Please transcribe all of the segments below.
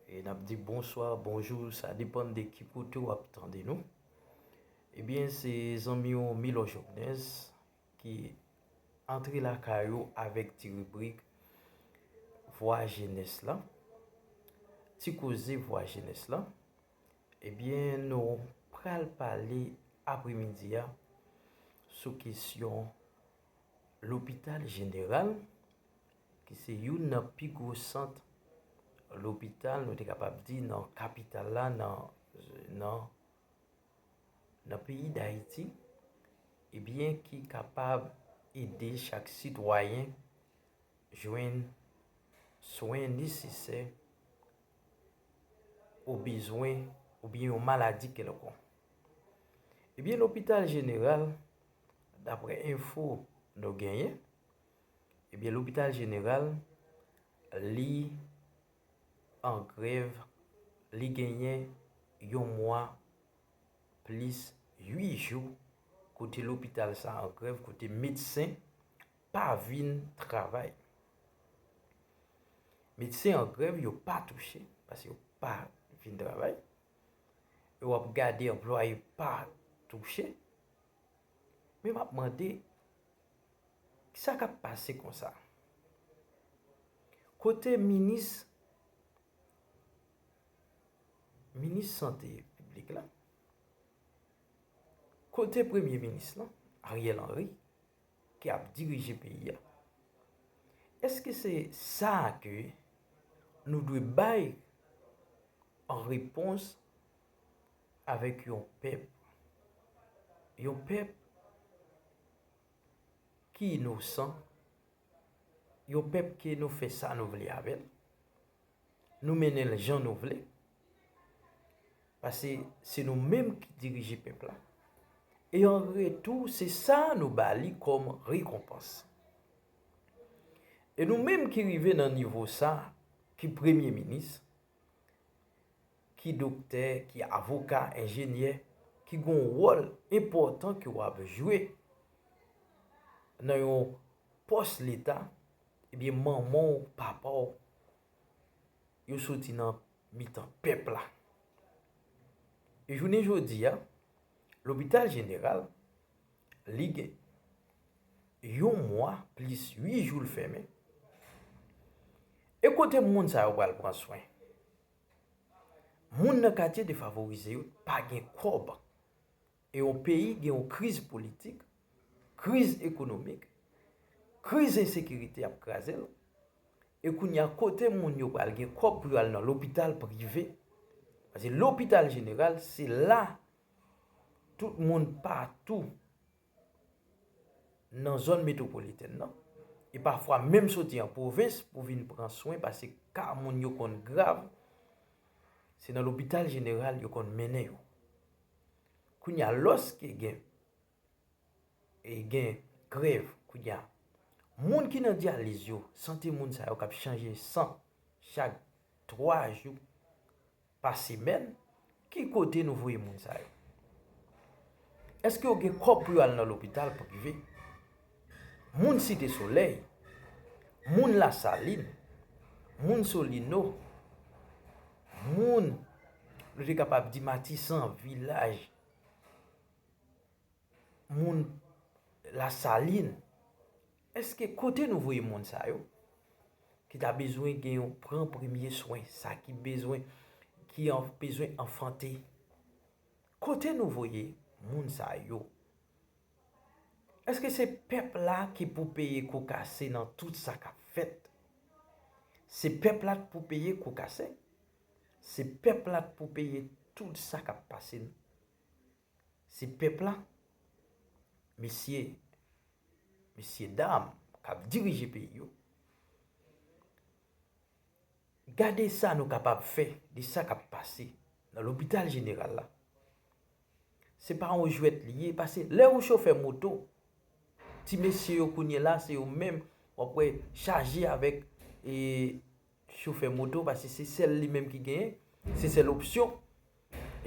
E nap di bonswa, bonjou, sa depan de ki kote w ap tande nou. Ebyen se zanmi w Milò Jòbnèz ki antre la kay ou avèk ti ribrik vwa jenès la. Ti koze vwa jenès la. Ebyen nou pral pale apre midi a sou kesyon. Lopital Jeneral, ki se youn nan pi gwo sant lopital, nou te kapab di, nan kapital la, nan peyi Dayiti, ebyen eh ki kapab ede chak sitwayen jwenn swen nesesè ou bezwen oubyen yon maladi kelkon. Ebyen Lopital Jeneral, Daprè enfo nou genyen, ebyen lopital jeneral li an grèv, li genyen yon mwa plis 8 jou kote lopital sa an grèv, kote medsen pa vin travay. Medsen an grèv yo pa touche, paske yo pa vin travay. Ou ap gade anplwaye pa touche. Men map mande, sa kap pase konsa? Kote minis, minis sante piblik la? Kote premye minis lan, Ariel Henry, ki ap dirije peyi a? Eske se sa ke nou dwe bay an repons avèk yon pèp, yon pèp ki inosan, yon pèp ke nou fè sa nou vle avè l, nou mennen l jan nou vle, pase se nou menm ki dirije pèp la, e an retou se sa nou ba li kòm rekonpans. E nou menm ki rive nan nivo sa, ki premye minis, ki doktè, ki avoka, enjenyè, ki gen yon wòl enpòtan ke w ap jwe nan yon pòs leta, ebyen manman w, papa w, yo soti nan mitan pèp la. E jounen jodi a, lopital jeneral, li gen yon mwa plis ui jou l fèmen, e kote moun sa yo pral pran swen? Moun nan katye defavorize yo pa gen kòb. E yon peyi gen yon kriz politik, kriz ekonomik, kriz ensekirite ap kraze l. E kounye a kote moun yo pral gen kòb pou yo al nan lopital prive? Pase lopital jeneral se la tout moun patou. nan zòn metwopolitèn nan, e pafwa menm soti an pwovens pou vin pran swen pase ka moun yo konn grav, se nan lopital jeneral yo konn mennen yo. Kounye a lòske gen grèv kounye a, moun ki nan dyaliz yo, sante moun sa yo k ap chanje san chak 3 jou, pa semèn, ki kote nou voye moun sa yo? Eske yo gen kòb pou yo al nan lopital prive? Moun Site Solèy, moun Lasalin, moun Solino, moun, nou te kapab di Matisan, Vilaj, moun Lasalin, Eske kote nou voye moun sa yo ki ta bezwen gen yon pran premye swen sa ki bezwen ki an bezwen anfante kote nou voye moun sa yo eske se pèp la ki pou peye kou kase nan tout sa kap fèt se pèp la k pou peye kou kase se pèp la k pou peye tout sa kap pase n Se pèp la, mesye, mesyedam k ap dirije peyi yo. Gade sa nou kapab fè de sa k ap pase nan lopital jeneral la. Se pa yon jwèt li ye, pase lè ou chofè moto, ti mesye yo kounyela se yo menm w ap wè chaje avèk chofè moto paske se sèl li menm ki genyen, se sèl opsyon.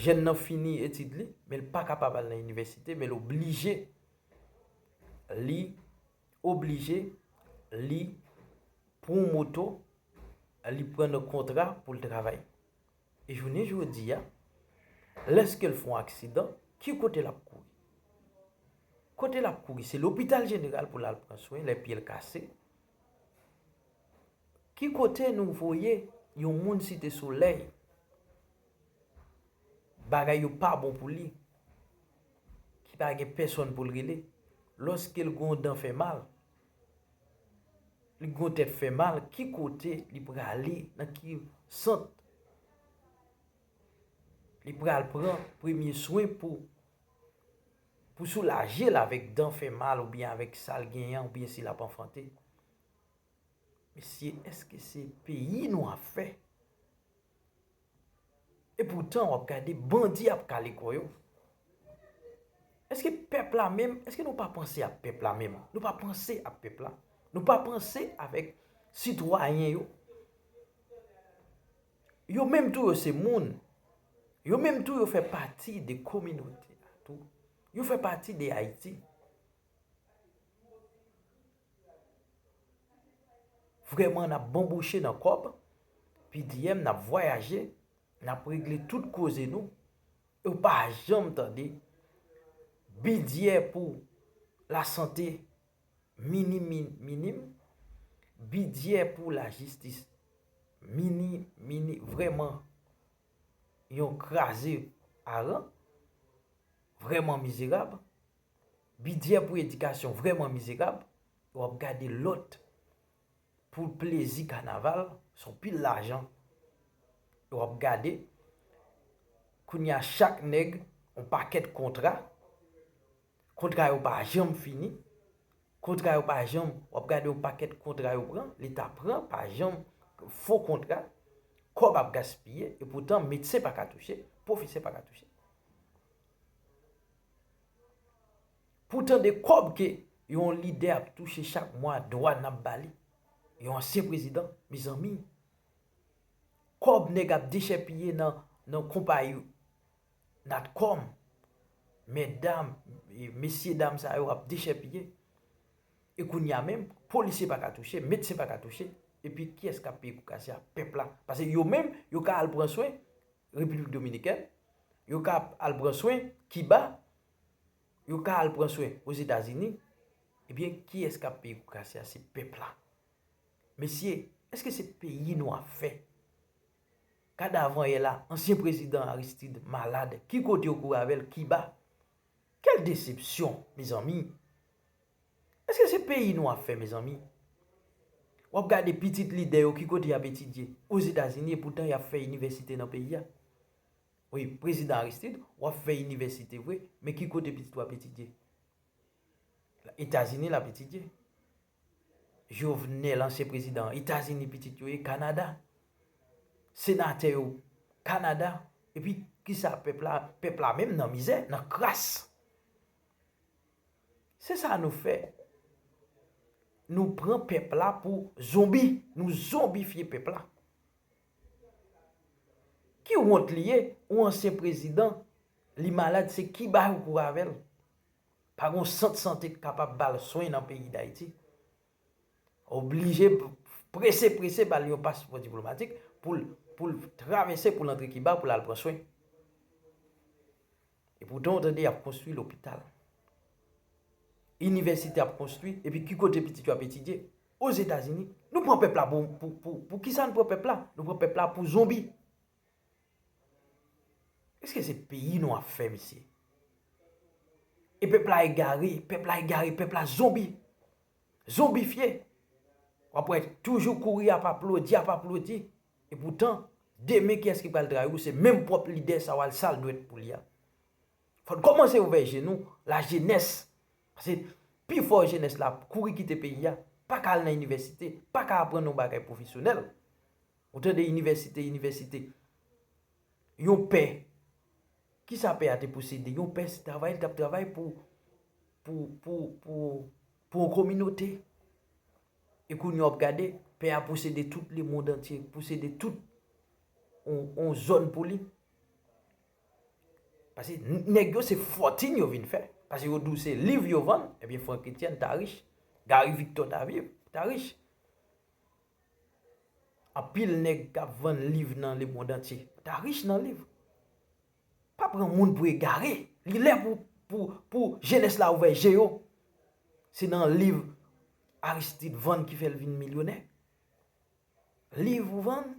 Jèn nan fini etid li, men li pa kapab al nan inivèsite, men l oblije, li oblije, li pran yon moto, li pran yon kontra pou l travay. E jounen jodi a, lèske l fè yon aksidan, ki kote l ap kouri? Kote l ap kouri? Se lopital jeneral pou l al pran swen lè pye l kase. Ki kote nou voye yon moun site solèy bagay yo pa bon pou li ki pa gen pèsòn pou l rele lòske l gen yon dan fè mal li gen yon tèt fè mal ki kote li prale nan ki sant li pral pran premye swen pou Pou soulaje l avèk dan fè mal oubyen avèk sa l genyen oubyen si l ap anfante. Mesye èske se peyi nou ap fè? Epoutan w ap gade bandi ap kale kò yo. Èske pèp la menm, èske nou pa panse ak pèp la menm? Nou pa panse ak pèp la? Nou pa panse avèk sitwayen yo? Yo menm tou yo se moun. Yo menm tou yo fè pati de kominote a tou. Yo fè pati de Ayiti. Vreman n ap banbouche nan kòb, PDM n ap vwayaje, n ap regle tout koze nou. Yo pa janm tande bidjè pou lasante miniminiminimim, bidjè pou lajistis minimini vrèman yon kraze aran, vrèman mizerab, bidjè pou edikasyon vrèman mizerab, e w ap gade lòt pou plezi kanaval, son pil lajan, e w ap gade kounye a chak nèg yon pakèt kontra. Kontra yo pa janm fini. Kontra yo pa janm, wap gade yon pakèt kontra yo pran, leta pran pa janm, fo kontra, kòb ap gaspiye, e poutan medsen pa ka touche, pwofesè pa ka touche. Poutan de kòb ke yon lidè ap touche chak mwa, dwa nap ba li, yon ansyen prezidan, mezanmi, kòb nèg ap dechèpiye nan konpayi yo. Natcom, Medam, mesye dam sa yo ap dechèpiye. E kounye a menm, polisye pa ka touche, medsen pa ka touche, epi kiyès k ap peye kou kase a? Pèp la. Pase yo menm, yo ka al pran swen Repiblik Dominikèn, yo ka al pran swen Kiba, yo ka al pran swen Ozetazini, ebyen kiyès k ap peye kou kase a? Se pèp la. Mesye, èske se peyi nou ap fè? Kad avan yè la ansyen prezidan Aristid malad ki kote yo kouri avèl kiba kèl desepsyon mezanmi eske se peyi nou ap fè mezanmi wap gade pitit lidè yo ki kote yap etidye ozetazini epoutan yap fè inivèsite nan peyi a wi prezidan Aristid wap fè inivèsite vre men ki kote pitit ou ap etidye etazini lap etidye. Jovenel ansyen prezidan etazini pitit yo ye kanada senatè yo kanada epi kisa pèp la pèp la menm nan mizè nan kras se sa nou fè nou pran pèp la pou zonbi nou zonbifye pèp la ki wont li ye ou ansyen prezidan li malad se ki bay ou kourè avèl. Pa gon sant sante k kapab ba l swen nan peyi Dayiti. Oblije prese prese ba l yon paspò diplomatik pou l travèse pou l antre Kiba pou l al pran swen. E poutan ou tande y ap konstwi lopital. Inivèsite ap konstwi epi ki kote pitit yo ap etidye? Ozetazini. Nou pran pèp la pou kisa nou pran pèp la? Nou pran pèp la pou zonbi. Eske se peyi nou ap fè mesye? E pèp la egare, pèp la egare, pèp la zonbi. Zonbifye. W ap wè toujou kouri ap aplodi, ap aplodi. E poutan, demen kiyès ki pral trayi ou se menm pwòp lidè sa w al sal dwèt pou li a. Fò n kòmanse ouvè je nou, la jenès. Pase pi fò jenès la ap kouri kite peyi a, pa ka al nan inivèsite, pa ka aprann yon bagay pwofesyonèl. Ou tande inivèsite, inivèsite. Yon pè, ki sa pè a te posede? Yon pè se travay li t ap travay pou yon kominote. E kounye a w ap gade, pè a posede tout le mond antye, posede tout yon zòn pou li. Pase nèg yo se fòtin yo vin fè. Pase yo di w se liv yo vann, ebyen Frankétienne ta rich, Gary Victor ta viv, ta rich. Anpil nèg k ap vann liv nan lemondantye ta rich nan liv. Pa pran moun pou egare. Li lè pou jenès la ouvè je yo. Se nan liv Aristide vann ki fè l vin milyonè. Liv ou vann.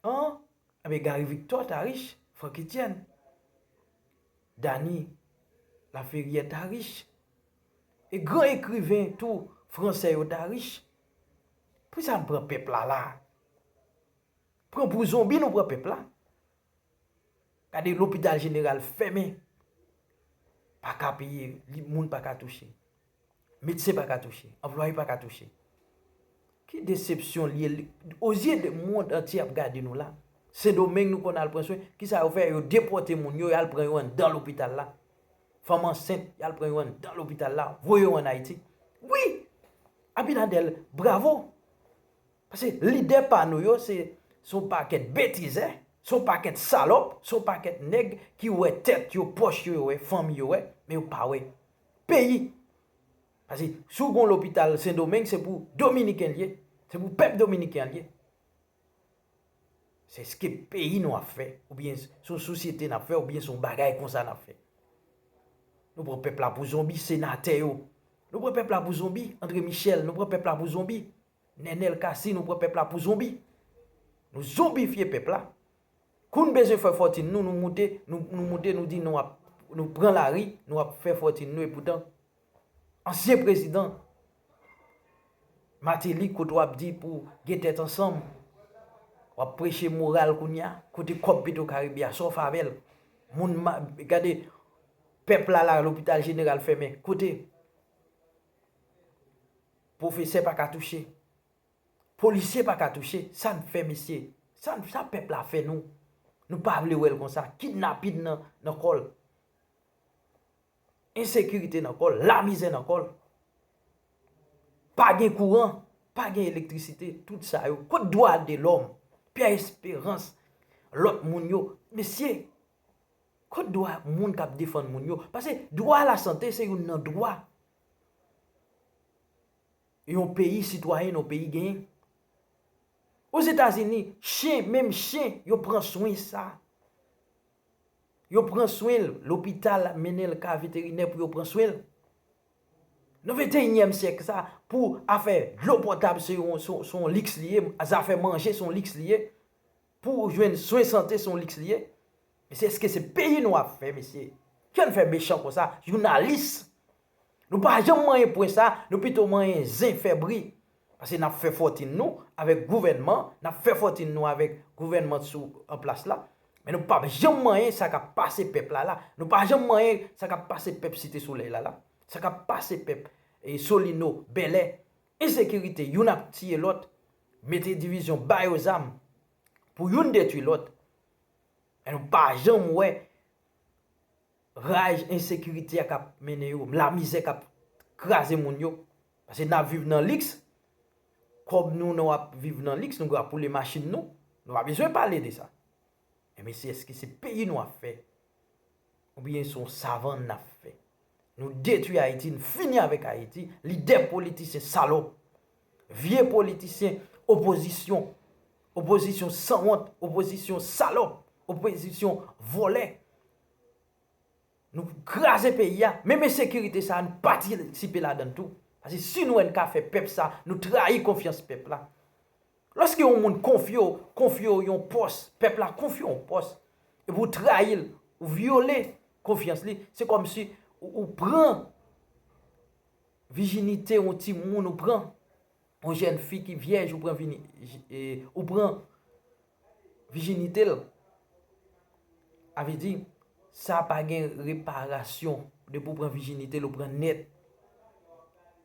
An Ebyen Gary Victor ta rich, Frankétienne. Dany Laferrière ta rich. E gran ekriven tou fransè yo ta rich. Poukisa n pran pèp la la a? Pran pou zonbi nou pran pèp la. Gade lopital jeneral fèmen. Pa ka peye, li moun pa ka touche. Medsen pa ka touche, anplwaye pa ka touche. Ki desepsyon li ye, o zye de mond antye ap gade nou la. Sendomeng nou konn al pran swen, ki sa yo fè, yo depòte moun yo, yo al pran yo anndan lopital la. Fanm ansent, yo al pran yo anndan lopital la, voye yo an Ayiti. Wi! Abinadèl, bravo! Paske lidè pa nou yo se yon pakèt betizè, se yon pakèt salòp, se yon pakèt nèg ki wè tèt yo, pòch yo yo wè, fanmi yo wè, men yo pa wè peyi. Paske si w gen yon lopital Sendomeng se pou dominiken li ye, se pou pèp dominiken an li ye. Se eske peyi nou ap fè oubyen se yon sosyete n ap fè oubyen se yon bagay konsa n ap fè. Nou pran pèp la pou zonbi, senatè yo. Nou pran pèp la pou zonbi, Andre Michel, nou pran pèp la pou zonbi. Nenel cassy nou pran pèp la pou zonbi nou zonbifye pèp la kou n bezwen fè fòtin nou nou moute nou moute nou di nou ap nou pran lari nou ap fè fòtin nou epoutan ansyen prezidan Martelly kote w ap di pou gen tèt ansanm w ap preche moral kounya kote kòb petro karibe a sa w fè avè l moun gade pèp la la lopital jeneral fèmen kote. Pwofesè pa ka touche. Polisye pa ka touche. Sa n fè mesye? Sa pèp la fè nou? Nou pa vle wè l konsa. Kidnapin nan kò l. Ensekirite nan kò l. Lamizè nan kò l. Pa gen kouran. Pa gen elektrisite. Tout sa yo. Kot dwa de lòm? Pyè esperans. Lòt moun yo. Mesye. Kot dwa moun kap defann moun yo? Pase dwa a la sante se youn nan dwa yon peyi sitwayen yon peyi genyen. O Zetazini, chen, menm chen, yo pran swen sa. Yo pran swen l, lopital ap mennen l ka veterinè pou yo pran swen l. Nan venteyinyèm syèk sa, pou afè dlo potab se yon liks li ye, zafè manje se yon liks li ye, Pou ou jwenn swen sante son liks li ye? Mesye eske se peyi nou ap fè mesye? Kè n fè mechan konsa jounalis Nou pa janm manyen pwen sa nou pito manyen zen fè bri Pase nap fè fòtin nou avèk gouvènman nap fè fòtin nou avèk gouvènman t sou an plas la men nou pap janm manyen sa kap pase pèp la la nou pa janm manyen sa kap pase pèp site solèy la la sa kap pase pèp solino bèlè Ensekirite youn ap tiye lòt mete divizyon ba yo zam pou youn detwi lòt men nou pa janm wè raj ensekirite a k ap mennen yo lamizè k ap kraze moun yo pase n ap viv nan liks kòb nou nou ap viv nan liks nou krapoule machin nou nou pa bezwen pale de sa E men si eske se peyi nou ap fè Ou byen se yon savann nap fè Nou detwi ayiti nou fini avèk ayiti Lidè politisyen salòp Vye politisyen opozisyon Opozisyon sanwont Opozisyon salòp Opozisyon vòlè Nou kraze peyi a Menm ensekirite sa nou patisipe ladann tou Pase si nou wè nou ka fè pèp sa Nou trayi konfyans pèp la Lòske yon moun konfye w, konfye w yon pòs, pèp la konfye w yon pòs, epi ou trayi l, ou vyole konfyans li, se kòmsi ou pran vijinite yon timoun, ou pran yon jèn fi ki vyèj, ou pran vijinite l. A vle di, sa pa gen reparasyon, depi ou pran vijinite l, ou pran nèt.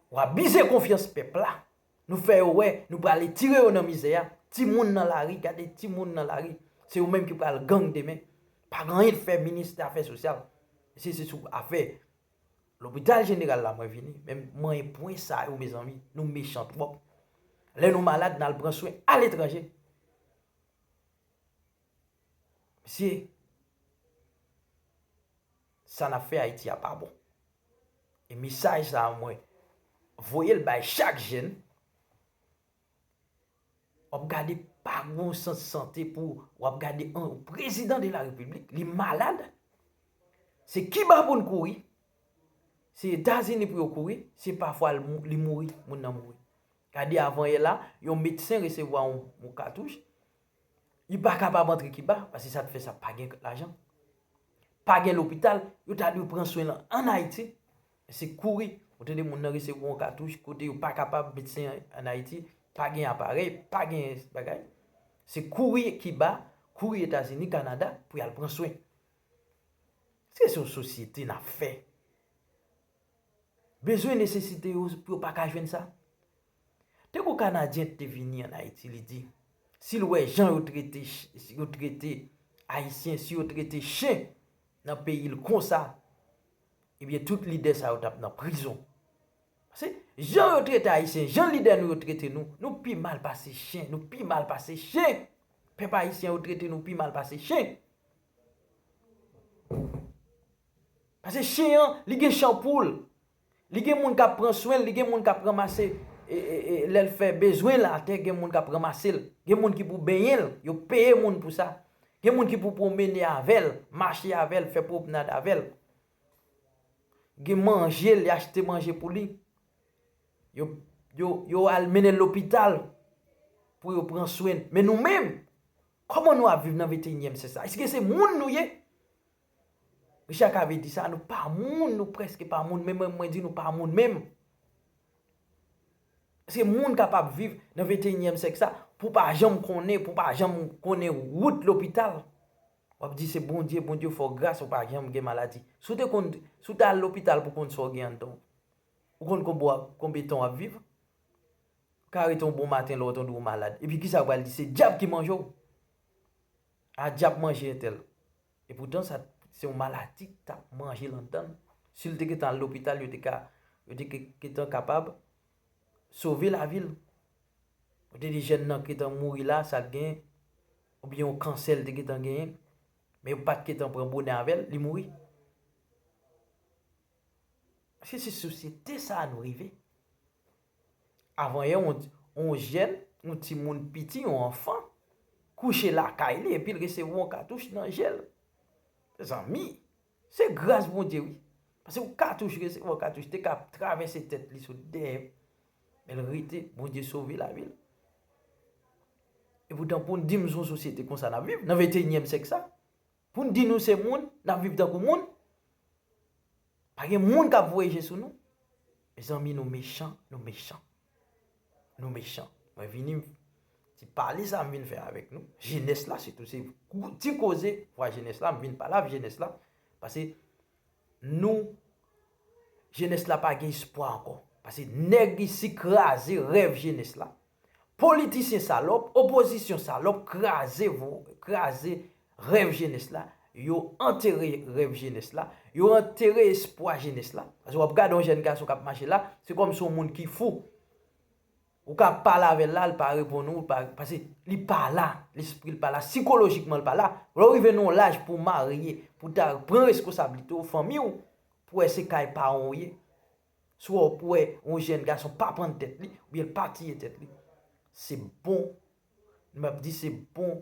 Ou abize konfyans pèp la. Nou fè yo wè nou prale tire yo nan mizè a, ti moun nan lari gade ti moun nan lari se yo menm ki pral gang demen. Pa gen anyen fè ministè afè sosyal si se sou afè lopital jeneral la mwen vini men manyen pwen sa yo mezanmi nou mechan twòp. Lè nou malad nal pran swen aletranje. Mesye. Sa nap fè Haïti a pa bon. E mesaj sa a mwen voyel bay chak jèn. Wap gade pa gon sant sante pou wap gade yon prezidan de la repiblik li malad. Se kiba pou n kouri. Se etazini pou yo kouri. Se pa fwa li mouri moun nan mouri. Gade avan yè la yon medsen resevwa yon katouch. Li pa kapab antre Kiba, paske sa te fè sa pa gen lajan, pa gen lopital, yo ta dwe pran swen l an Ayiti, men se kouri. Ou tande moun nan resevwa yon katouch kote yo pa kapab medsen an Ayiti, pa gen aparèy, pa gen bagay. Se kouri Kiba, kouri Etazini, Kanada pou y al pran swen. Èske se yon sosyete n ap fè? Bezwen nesesite yo pou yo pa ka jwenn sa? Depi yon Kanadyen te vini an Ayiti li di, si l wè jan yo trete yo trete Ayisyen, si yo trete chen nan peyi l konsa, ebyen tout lidè sa yo t ap nan prizon. Pase, jan yo trete Ayisyen, jan lidè nou yo trete nou, nou pi mal pase chen, nou pi mal pase chen! Pèp Ayisyen yo trete nou pi mal pase chen. Pase chen an, li gen chan pou l. Li gen moun kap pran swenl li gen moun kap ranmase lèl fè bezwenl atè gen moun kap ranmasel gen moun ki pou benyenl yo peye moun pou sa gen moun ki pou pwomene avèl mache avèl fè pwopnad avèl gen manjel yo achte manje pou li yo al mennenl lopital pou yo pran swenl men nou menm kòman nou ap viv nan 21 nyèm syèk sa eske se moun nou ye Richard Cavé di sa, nou pa moun, nou preske pa moun, men mwen di nou pa moun menm. Se moun kap ap viv nan 21 nyèm sèk sa, pou pa janm konnen, pou pa janm konnen wout lopital. Wap di se Bondye, Bondye fè w gras ou pa janm gen maladi. Si w te konn, si w te al lopital pou konn sa w gen anndan w, ou konn konbe wap, konbe tan wap viv? Ka rete yon bon maten lè w tande w malad, epi kisa yo pral di, se dyab ki manje w? A dyab manje entèl. E poutan sa se yon maladi ki tap manje lan dan l. Si l te gentan al lopital yo te ka yo te gentan kapab sove lavi l. Yo te di jèn nan gentan mouri la sa l gen oubyen yon kansè l te gentan genyen. Men yo pat gentan pran bonè avè l, li mouri. Èske se sosyete sa a nou rive? Avanyè yon jèn, yon timoun piti, yon anfan, kouche lakay li epi l resevwa yon katouch nan je l. Mezanmi! Se gras Bondye wi. Pase yon katouch, resevwa yon katouch te ka travèse tèt li sot dèyè. Men l rete, Bondye sove lavi l. Epoutan pou n di m son sosyete konsa n ap viv, nan venteyinyèm syèk sa? Pou n di nou se moun, n ap viv tankou moun? Pa gen moun k ap voye je sou nou? Mezanmi nou mechan, nou mechan. Nou mechan. Mwen vini, ti pale sa m vin fè avèk nou, jenès la sitou se ti koze vwa jenès la m vin pale avèk jenès la, pase nou jenès la pa gen espwa ankò. Pase nèg isi kraze rèv jenès la. Politisyen salòp, opozisyon salòp kraze vo, kraze rèv jenès la, yo antere rèv jenès la, yo antere espwa jenès la. Paske wap gade yon jèn gason kap mache la, se kòm si yon moun ki fou. Ou ka pale avè l la, li pa reponn ou, li pa, pase li pa la, lespri l pa la, sikolojikman l pa la. Lè ou rive nan yon laj pou w marye, pou ta pran reskosablite w, fanmi w, pou wè se kay paran w ye. Swa w wè yon jèn gason pa pann tèt li, oubyen l pa tiye tèt li, se bon, m ap di se bon,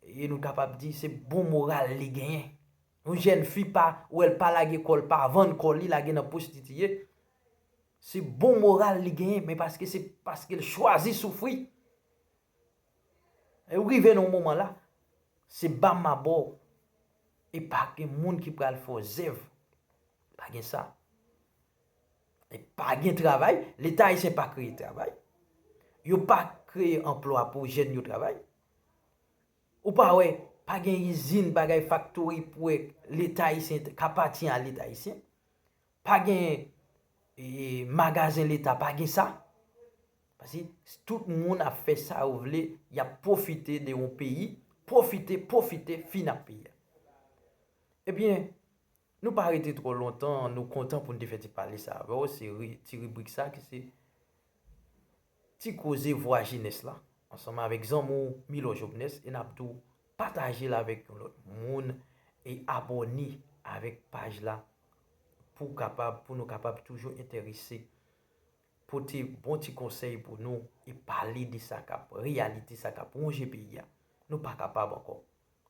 e nou kapab di se bon moral li genyen. Yon jèn fi pa wè l pa lage kò l, pa vann kò li lage nan pwostitiye, se bon moral li genyen, men paske se paske l chwazi soufri. Ou rive nan yon moman la, se ba m ma ba w. E pa gen moun ki pral fè w zèv. Pa gen sa. E pa gen travay. Leta ayisyen pa kreye travay. Yo pa kreye anplwa pou jèn yo travay. Ou pa wè, pa gen izin bagay faktori pou wè leta ayisyen ka pati a leta ayisyen. Pa gen magazen leta pa gen sa. Pase tout moun ap fè sa yo vle, y ap pwofite de yon peyi, pwofite, pwofite fin ak peyi a. Ebyen, nou pa rete twò lontan, nou kontan pou n te fè ti pale sa avè w, se ti ribrik sa ki se Ti koze vwa jenès la ansanm avèk zanmi w Milò Jovnès e nap di w pataje l avèk yon lòt moun e abòne avèk paj la pou kapab pou nou kapab toujou enterese pote bon ti konsèy pou nou e pale de sa kap reyalite sa kap wonje peyi a nou pa kapab ankò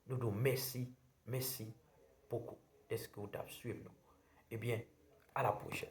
nou di w mèsi mèsi bokou dèske w tap swiv nou ebyen a la pwochèn.